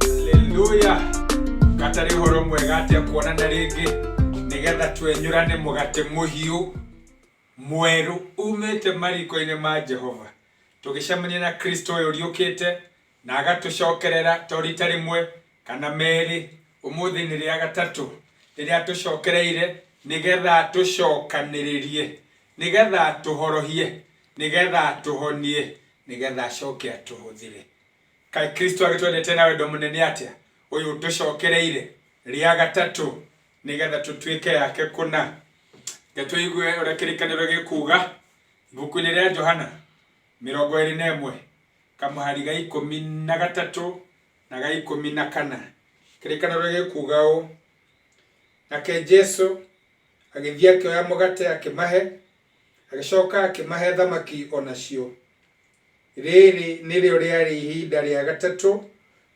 Haleluya. Gatari horo mwega atia kuona na rĩngĩ nĩgetha twenyũrane mũgate mũhiũ mwerũ umĩte mariko-inĩ ma Jehova tũgĩcemania na Kristo ũyũ ũriũkĩte Na agatũcokerera to rita rĩmwe kana merĩ, ũmũthĩ nĩ rĩa gatatũ rĩrĩa atũcokereire nĩ getha atũcokanĩrĩrie, nĩ getha atũhorohie, nĩ getha atũhonie, nĩ getha acoke atũhũthĩre. Kaĩ Kristo agĩtwendete na wendo mũnene atĩa, ũyũ ũtũcokereire rĩa gatatũ nĩ getha tũtuĩke ake kũna. Reke tũigue ũrĩa kĩrĩkanĩro gĩkuuga ibuku-inĩ rĩa Johana. mĩrongo ĩĩrĩ na ĩmwe, kamũhari ga ikũmi na gatatũ na ga ikũmi na kana. Kĩrĩkanĩro gĩkuuga ũũ, Nake Jesu agĩthiĩ akĩoya mũgate akĩmahe, agĩcoka akĩmahe thamaki o nacio. Rĩĩrĩ nĩrĩo rĩarĩ ihinda rĩa gatatũ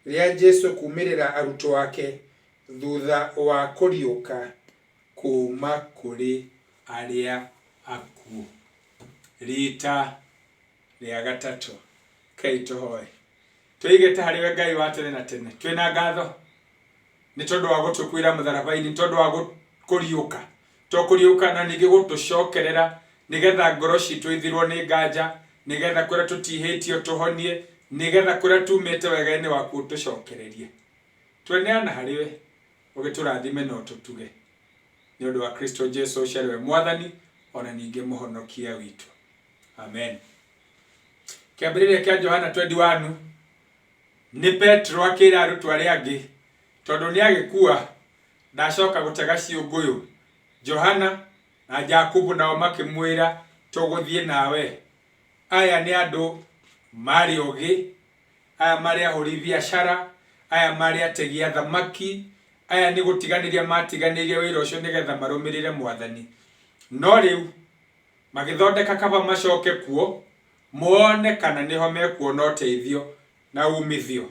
rĩa Jesu kuumĩrĩra arutwo ake thutha wa kũriũka kuuma kũrĩ arĩa akuũ. Riita rĩa gatatũ, reke tũhoe. Tũigĩte harĩ we Ngai wa tene na tene, twĩ na ngatho nĩ tondũ wa gũtũkuĩra mũtharaba-inĩ, nĩ tondũ wa kũriũka, to kũriũka na ningĩ gũtũcokerera nĩ getha ngoro citũ ithirwo nĩ nganja, nĩ getha kũrĩa tũtihĩtio tũhonie, nĩ getha kũrĩa tumĩte wega-inĩ waku ũtũcokererie. Tweneana harĩ we. ũgĩtũrathime na ũtũtuge. Nĩ ũndũ wa Kristo Jesu ũcio arĩ we Mwathani o na ningĩ Mũhonokia witũ. Amen. Kĩambĩrĩria kĩa Johana twendi wanu, nĩ Petero akĩĩra arutwo arĩa angĩ, tondũ nĩ agĩkua, ndacoka gũtega ciũngũyũ. Johana na Jakubu nao makĩmwĩra, tũgũthiĩ nawe. Aya nĩ andũ maarĩ ogĩ aya marĩ ahũri biacara, aya marĩ ategi a thamaki, aya nĩ gũtiganĩria maatiganĩirie wĩra ũcio nĩgetha marũmĩrĩre Mwathani. No rĩu, magĩthondeka kaba macoke kuo, mone kana nĩho mekuona ũteithio na uumithio.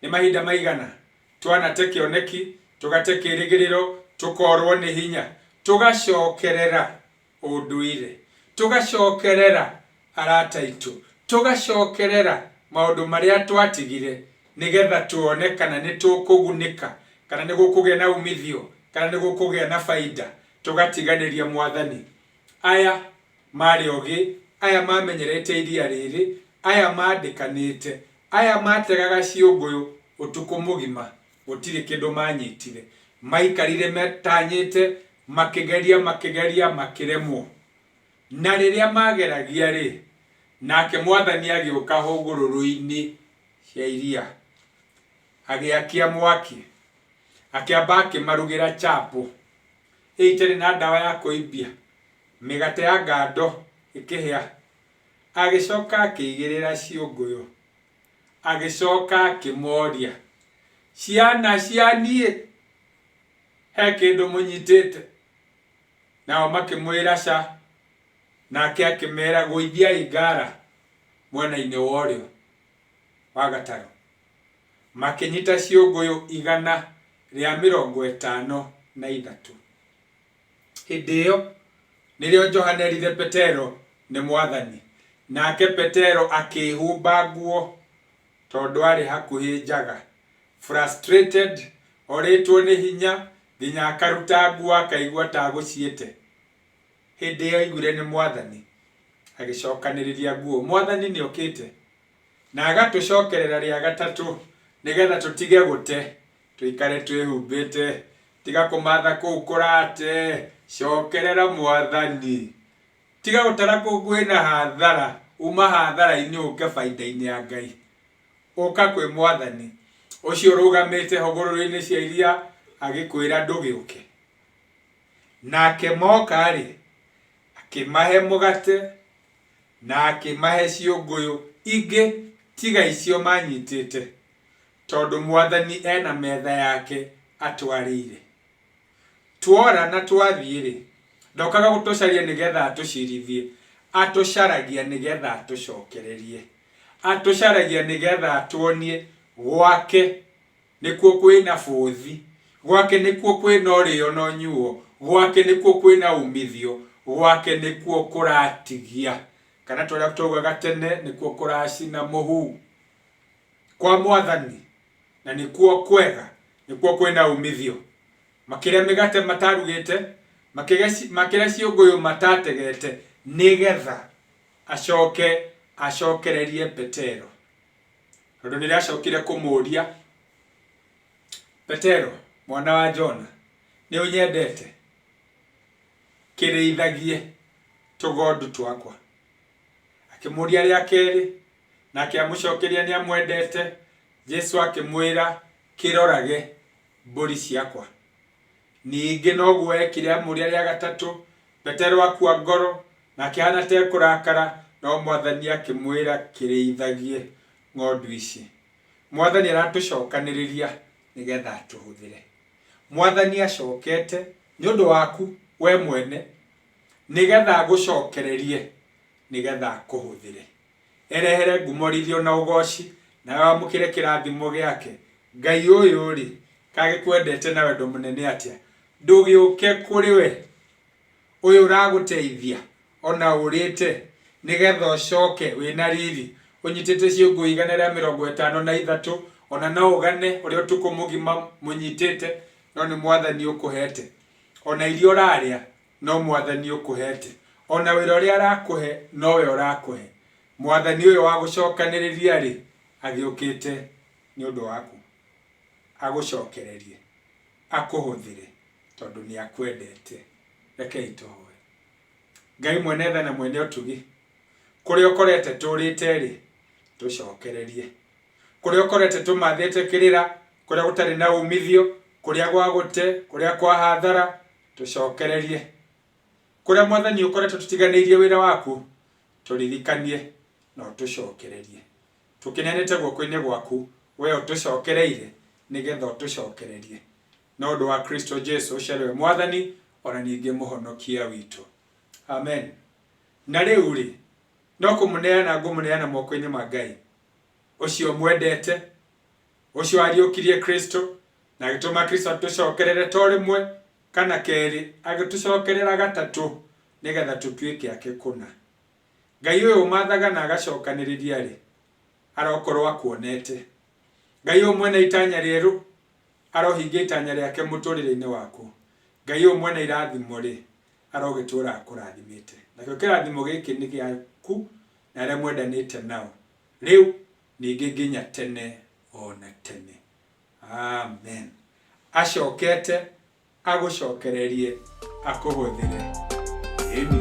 Nĩ mahinda maigana twanate kĩoneki, tũgate kĩĩrĩgĩrĩro, tũkoorũo nĩ hinya, tũgacokerera? ũndũire, tũgacokerera arata aitũ, tũgacokerera maũndũ marĩa twatigire nĩgetha tuone kana nĩ tũkũgunĩka, kana nĩ gũkũgĩa na umithio, kana nĩ gũkũgĩa na bainda, tũgatiganĩria Mwathani. Aya marĩ ogĩ, aya mamenyerete iria rĩrĩ, aya mandĩkanĩte, aya mategaga ciũngũyũ ũtukũ mũgima, Gũtirĩ kĩndũ maanyitire. Maikarire matanyĩte, makĩgeria, makĩgeria, makĩremwo. Na rĩrĩa maageragia-rĩ, nake Mwathani agĩũka hũgũrũrũ-inĩ cia iria, agĩakia mwaki, akĩamba akĩmarugĩra chapo, ĩrĩa itarĩ na ndawa ya kũimbia, mĩgate ya ngando ĩkĩhĩa, agĩcoka akĩigĩrĩra ciũngũyũ. Agĩcoka akĩmooria, Ciana cia niĩ, he kĩndũ mũnyitĩte? Nao makĩmwĩra, Ca. Nake akĩmeera, Gũithiai ngaara mwena-inĩ wa ũrĩo wa gatarũ. Makĩnyita ciũngũyũ igana rĩa mĩrongo ĩtano na ithatũ. Hĩndĩ ĩyo nĩrĩo Johana eerire Petero nĩ Mwathani. Nake Petero akĩĩhumba nguo tondũ aarĩ hakuhĩ njaga. Frustrated, orĩtwo nĩ hinya nginya akaruta nguo akaigua ta agũciĩte. Hĩndĩ ĩyo aiguire nĩ Mwathani agĩcokanĩrĩria nguo. Mwathani nĩ okĩte na agatũcokerera rĩa gatatũ nĩgetha tũtige gũte Tũikare twĩhumbĩte, tiga kũmatha kũu kũrate, cokerera Mwathani. Tiga gũtara kũu kwĩna hathara, uma hathara-inĩ ũke bainda-inĩ ya Ngai. Ũka kwĩ Mwathani, ũcio ũrũgamĩte hũgũrũrũ-inĩ cia iria agĩkwĩra ndũgĩũke. Nake moka-rĩ, akĩmahe mũgate, na akĩmahe ciũngũyũ ingĩ tiga icio manyitĩte. Tondũ Mwathani e na metha yake atwarĩire. Twora na twathiĩ-rĩ, ndokaga gũtũcaria nĩ getha atũcirithie, atũcaragia nĩ getha atũcokererie. Atũcaragia nĩ getha atuonie gwake nĩkuo kwĩ na bũthi, gwake nĩkuo kwĩ na ũrĩo na ũnyuo, gwake nĩkuo kwĩ na umithio, gwake nĩkuo kũratigia, kana ta ũrĩa twaugaga tene, nĩkuo kũracina mũhu. kwa Mwathani, na nĩkuo kwega, nĩkuo kwĩ na umithio. Makĩrĩa mĩgate matarugĩte, makĩrĩa ciũngũyũ matategete, nĩ getha acoke acokererie Petero. Tondũ nĩ rĩacokire kũmũria, Petero, mwana wa Jona, nĩ ũnyendete? Kĩrĩithagie tũgondu twakwa. Akĩmũũria rĩa kerĩ, nake amũcookeria nĩamwendete. Jesũ akĩmwĩra, Kĩrorage, mbũri ciakwa. Ningĩ noguo eekire amũũria rĩa gatatũ. Petero akua ngoro, na akĩhaana ta ekũrakara, no Mwathani akĩmwĩra, Kĩrĩithagie ng'ondu ici. Mwathani aratũcookanĩrĩria nĩgeetha atũhũthĩre. Mwathani acookete nĩ ũndũ waku wee mwene, Nĩgetha ngũcokererie, nĩgetha ngũhũthĩre. Erehere ngumorithio na ũgooci, nawe wamũkĩre kĩrathimo gĩake. Ngai ũyũ-rĩ, kaĩ agĩkwendete na wendo mũnene atĩa! Ndũgĩũke kũrĩ we, ũyũ ũragũteithia, o na ũũrĩte, nĩgetha ũcoke wĩ na riri, ũnyitĩte ciũngũ igana rĩa mĩrongo ĩtano na ithatũ, o na no ũgane ũrĩa ũtukũ mũgima mũnyitĩte, no nĩ Mwathani ũkũhete. O na irio ũrarĩa no Mwathani ũkũhete, o na wĩra ũrĩa arakũhe no we ũrakũhe. Mwathani ũyũ wa gũcokanĩrĩria-rĩ, agĩũkĩte nĩ ũndũ waku, agũcokererie, akũhũthĩre, tondũ nĩ akwendete. Rekei tũhoe. Ngai mwene tha na mwene ũtugi, Kũrĩa ũkorete tũũrĩte-rĩ, tũcokererie. Kũrĩa ũkorete tũmathĩte kĩrĩra, kũrĩa gũtarĩ na umithio, kũrĩa gwa gũte, kũrĩa kwa hathara, tũcokererie. Kũrĩa Mwathani ũkoretwo tũtiganĩirie wĩra waku, tũririkanie na ũtũcokererie. Tũkĩneanĩte guoko-inĩ gwaku, wee ũtũcokereire nĩ getha ũtũcokererie. No ũndũ wa Kristo Jesu ũcio arĩ we Mwathani o na ningĩ Mũhonokia witũ. Amen. Na rĩu-rĩ, no kũmũneana ngũmũneana moko-inĩ ma Ngai, ũcio mwendete, ũcio wariũkirie Kristũ, na agĩtũma Kristũ atũcokerere to rĩmwe kana kerĩ, agĩtũcokerera gatatũ, nĩgetha tũtuĩke ake kũna. Ngai ũyũ ũmathaga na agacokanĩrĩria-rĩ, arokorwo akuonete. Ngai ũyũ mwene itanya rĩerũ. Arohingia itanya rĩake mũtũrĩre-inĩ waku. Ngai ũyũ mwene irathimo rĩ, arogĩtũra akũrathimĩte. Nakĩo kĩrathimo gĩkĩ nĩ gĩaku na arĩa mwendanĩte nao, rĩu, ningĩ nginya tene o na tene. Amen. Acokete Agũcokererie akũhũthĩre. Ĩni.